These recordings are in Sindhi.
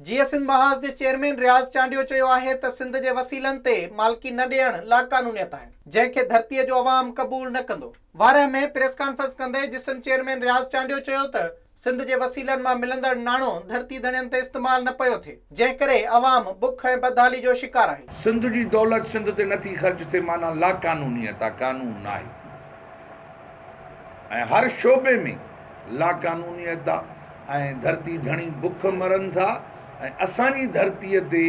جيئي سنڌ محاذ جي چيئرمين رياض چانڊيو چيو آهي ته سنڌ جي وسيلن تي مالڪي نه ڏيڻ لاقانونيت آهي جنهن کي ڌرتي جو عوام قبول نه ڪندو. وارهه ۾ پريس ڪانفرنس ڪندي جسم چيئرمين رياض چانڊيو چيو ته سنڌ جي وسيلن مان ملندڙ ناڻو ڌرتي ڌڻين تي استعمال نه پيو ٿئي جنهن ڪري عوام بک ۽ بدحالي جو شڪار آهي. سنڌ جي دولت سنڌ تي نه ٿي خرچ ٿئي معنيٰ لاقانونيت آهي قانون ناهي. ۽ هر شعبي ۾ لاقانونيت آ ۽ ڌرتي ڌڻي بک مرن ٿا ۽ اسان جي ڌرتي تي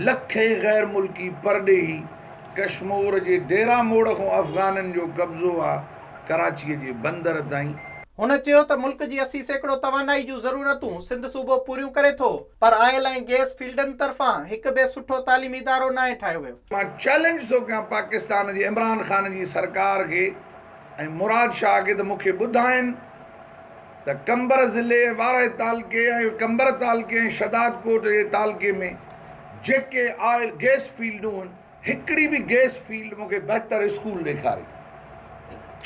لکين غير ملڪي پرڏيهي ڪشمور جي ڊيرا موڙ کان افغانن جو قبضو آ ڪراچي جي بندر تائين. هن چيو ته ملڪ جي اسي سيڪڙو توانائي جون ضرورتون سنڌ صوبو پوريون ڪري ٿو، پر آئل ۽ گيس فيلڊن طرفان هڪ به سٺو تعليمي ادارو ناهي ٺاهيو ويو. مان چئلينج ٿو ڪيان پاڪستان جي عمران خان جي سرڪار کي ۽ مراد شاهه کي ته مون کي ٻڌائين ته قمبر ضلعي، وارهه تعلقي ۽ قمبر تعلقي ۽ شهداد ڪوٽ جي تعلقي ۾ جيڪي آئل گيس فيلڊون هن هڪڙي به گيس فيلڊ مون کي بهتر اسڪول ڏيکاري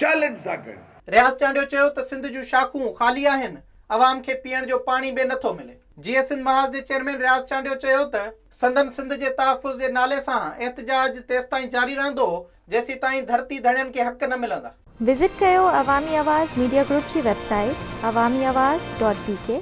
چئلينج ٿا ڪيون. رياض چانڊيو چيو ته سنڌ جون شاخون خالي آهن عوام کي پيئڻ جو پاڻي به نٿو ملي. جي اي سنڌ محاذ جي چيئرمين رياض چانڊيو چيو ته سندن سنڌ جي تحفظ جي نالي سان احتجاج تيستائين جاري رهندو جيسيتائين ڌرتي ڌڻين کي حق نه ملندا. وزٽ ڪيو عوامي آواز ميڊيا گروپ جي website Awami Awaz dot بي ڪي.